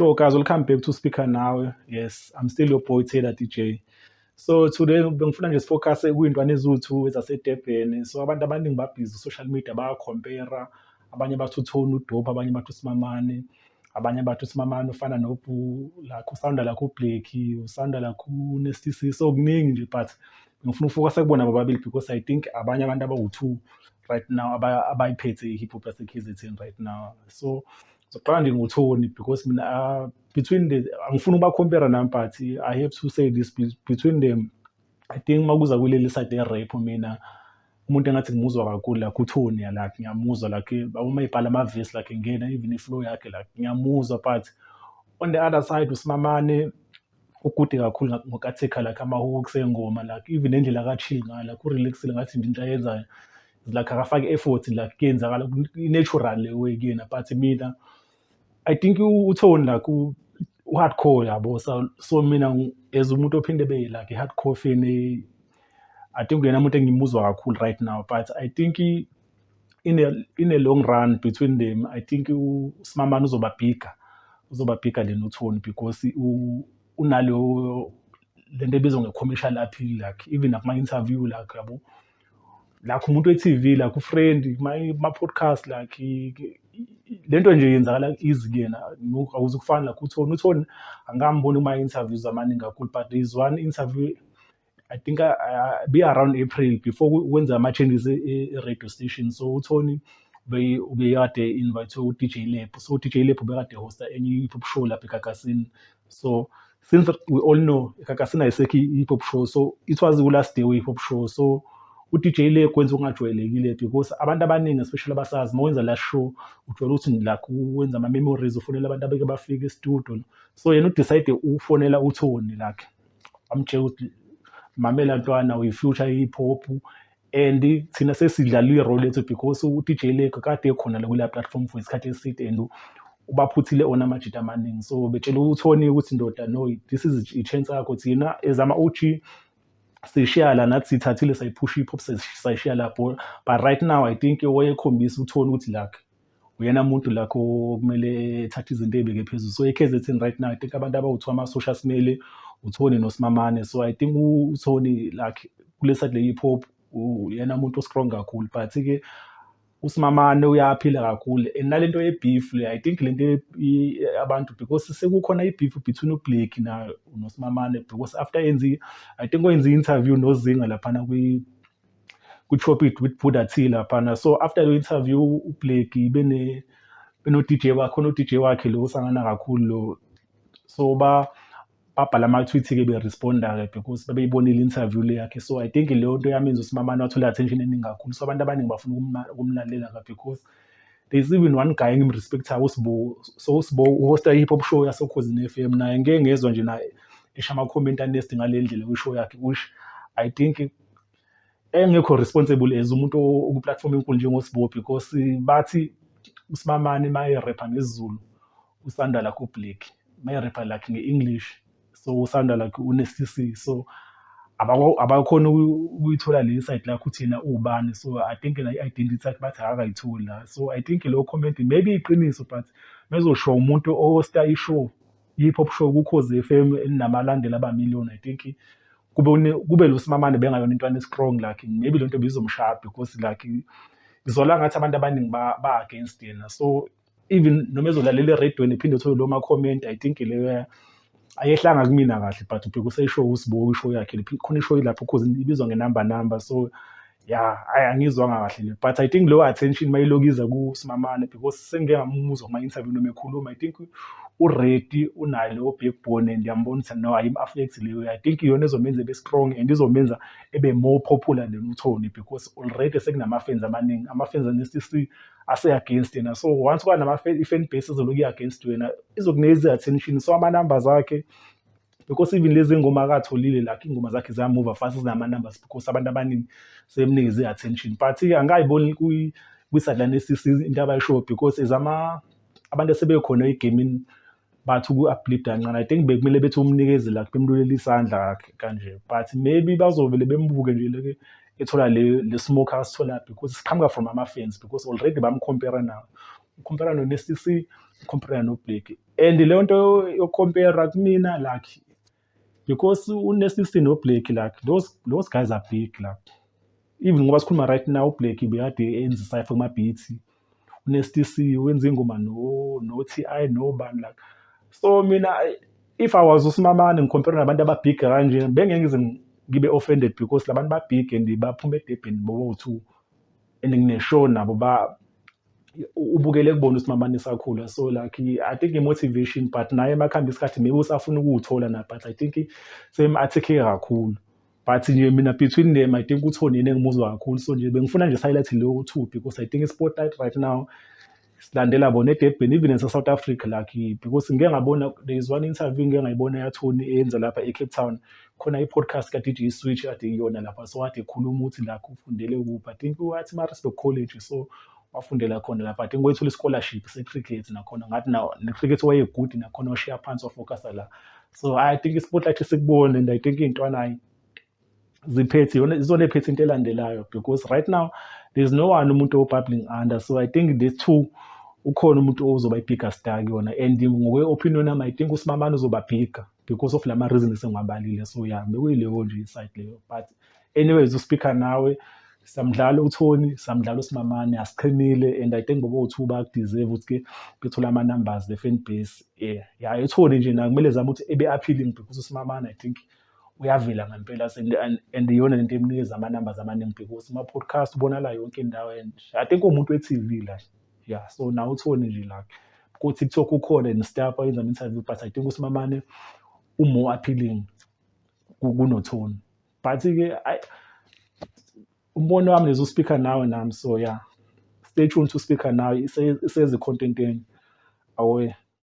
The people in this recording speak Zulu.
Sure, guys, welcome back to Speaker Now. Yes, I'm still your boy Taylor DJ. So today bengifuna nje sifocus kwintwana ezuthu ezaseDurban. So abantu abaningi babhizi social media baya compare abanye bathi uthoni udope abanye bathi usimamane abanye bathi usimamane ufana nobhu lakho usanda lakho ubhleki usanda lakho unestc so kuningi nje but ngifuna ukufokasa kubona bobabili because i think abanye abantu abawu-two right now abayiphethe i-hip hop yasekhizethini right now so ngizoqala nje ngothoni because mina ah, between the angifuni ubakhompera nami but i have to say this between them i think uma kuza kuleli side ye-rap mina umuntu engathi ngimuzwa kakhulu like uthoni ya like ngiyamuzwa like uma ebhala amavesi like ngena even iflow yakhe like ngiyamuzwa but on the other side usimamane ukude kakhulu ngokathekha like ama-hooks engoma like even nendlela akachill ngayo like urelaxile ngathi nje into ayenzayo like akafake effort like kuyenzakala i-natural le way kuyena but mina i think uthoni like u-hardcore yabo so, so mina as umuntu ophinde be like i-hardcore fan I think uyena muntu engimuzwa kakhulu right now but I think in a, in a long run between them I think uSimamani uzoba bigger uzoba bigger than uThoni because unaleyo lento ebizwa nge-commercial appeal like even nakuma-interview like yabo like umuntu we-TV like ufriend ma-podcast like lento nje yenzakala easy kuyena awuze kufana like uthoni uthoni angikamboni kuma-interviews amaningi kakhulu but there is one interview I think I, I, be around April before kwenza ama changes e, e, e radio station so uThoni ubekade invite uDJ Lab so uDJ Lab ubekade hosta enye hip hop show lapha eGagasini so since we all know eGagasini ayisekho hip hop show so it was the last day we hip hop show so uDJ le kwenza okungajwayelekile because abantu abaningi especially abasazi uma wenza la show ujwayele ukuthi la wenza ama memories ufonela abantu abeke bafike e-studio so yena udecide ufonela uThoni lakhe amtshela ukuthi mamela ntwana uyi-future hip hop and thina sesidlala i-role lethu because u-dj lego kade ekhona la kuleya platform for isikhathi eside and ubaphuthile ona amajita amaningi so betshela uthoni ukuthi ndoda no this is i-chance yakho thina as ama-og sishiya la nathi sithathile sayiphusha i-pop sayishiya la but right now i think wayekhombisa uthoni ukuthi lakhe uyena muntu la kumele ethathe izinto ey'beke phezulu so e-kzn right now i think abantu abawuthiwa amasosha simele uthoni nosimamane so i think uthoni like kule side le-hip hop uyena muntu o-strong kakhulu but-ke usimamane uyaphila kakhulu and nale nto ye-beef le i think le nto abantu because sekukhona i-beef between ublake nosimamane because after enzi i think wenze i-interview nozinga laphana ku-chop it with Buddha T laphana so after lo interview uBleki bene beno-DJ wakhe khona u-DJ wakhe lo usangana kakhulu lo so ba babhala ama-tweet-ke be-responda-ke because babeyibonile interview le yakhe so i think leyo nto yamenza usimamane wathola i-attention eningi kakhulu so abantu abaningi bafuna ukumna- ukumlalela-ke because there is even one guy engimrespectayo usibo so usibo uhosta i-hip hop show yasokhozini f m naye ngike ngezwa nje naye esho ama-comment anesti ngale ndlela kwishow yakhe which i think engekho responsible as umuntu okuplatform enkulu njengosbo because bathi usimamane mayerepha ngesizulu usanda lakhe ublack mayerepha lakhe nge-english so usanda lakhe une-cc so abakhona ukuyithola le insight lakho ukuthi yena uwubani so i think la i-identity yakhe bathi akakayitholi la so i think leyo comment maybe iqiniso but mezoshiwa umuntu osta ishow Yi pop show ku Khozi FM eninabalandeli aba million I think kube une kube losimamane bengayona intwana e strong like maybe lento bizomshaya because like ngizola ngathi abantu abaningi ba, ba against yena so even noma ezolalela eredweni phinde uthole lo ma comment I think leyo ayehlanga kumina kahle but ubheka useshow usibuka ishow yakhe khona ishow lapho cause ibizwa ngenamba number so ya ayi angizwanga kahle le but i think leyo attention mayilokiza kusimamane because sengike ngamuzwa kuma-interview noma ekhuluma i think uready unayo leyo backbone and yambona ukuthi no ayim-affect leyo i think iyona ezomenza ebe strong and izomenza ebe more popular than uthoni because already sekunama-fans amaningi ama-fans ane-cc ase-against yena so once kwanama-fan base ezoloku i-against wena izokuneza i-attention so ama-numbers akhe because even lezi ngoma akatholile like ingoma zakhe ziyamuva fast zinama-numbers because abantu abaningi sebemnikeze i-attention but-ke angikayiboni kwi-sideline esisi into abayishoyo because as ama abantu asebekhona egamini bathi uku-uplida kancane i think bekumele bethi umnikeze like bemlulele isandla kanje but maybe bazovele bembuke nje leke ethola le le smoke asithola because siqhamuka from ama-fans because already bamcompera nawo ucompera no-nstc ucompera no-blake And leyo nto yokucompera kumina like because une-sixteen noblake like those, those guys are big like even ngoba sikhuluma right now ublake bekade enza isayfa kumabhithi une-stc wenza ingoma no-t i nobani like so mina if i was usimamane ngikhompera nabantu ababig kanje bengeke ngize ngibe offended because labantu babig and baphume edebheni bobo-two and ngineshow nabo ubukele kubona ukuthi mama nisakhula so like i think i-motivation but naye makuhamba isikhathi maybe usafuna ukuwuthola na but i think same athekhe kakhulu but nje mina between them i think uthoni yena engimuzwa kakhulu so nje bengifuna nje sihighlight leyo two because i think i-spotlight right now silandela bona edebheni even nase-south africa lucky because ngike ngabona there is one interview ngike ngayibona yathoni eyenza lapha e-cape town khona i-podcast ka-DJ Switch kade iyona lapha so kade ekhuluma ukuthi lakho ufundele kuphi I think wathi Maritzburg College so wafundela khona lapha I think wayethola i-scholarship se-cricket nakhona ngathi na ne-cricket wayegude nakhona washiya phansi wafocusa la so I think i-spotlight isikubone and I think iy'ntwanayi ziphethe yona izona ephethe into elandelayo because right now there's no one umuntu obubbling under so I think the two ukhona umuntu ozoba i-bigger star kuyona and ngokwe-opinion yami I think usimamane uzoba bigger because of lama reasons engiwabalile so ya bekuyileyo nje iside leyo but anyways uspeaker nawe samdlala uthoni samdlala usimamane asiqhinile and i think bobo two bakudeserve ukuthi ke bethole ama numbers the fan base yeah ya ethoni nje na kumele zama ukuthi ebe appealing because usimamane i think uyavela ngempela and, and, and iyona lento emnikeza ama numbers amaningi because uma podcast ubonala yonke indawo and i think umuntu we TV la ya so nawe uthole nje la kuthi kuthiwa kukhona ne-staff oyenza ama-interview but i think usimamane u-more appealing kunothoni but-ke umbono wami lezo speaker nawe nami so ya stay tuned to speaker nawe isezi-contenteni awe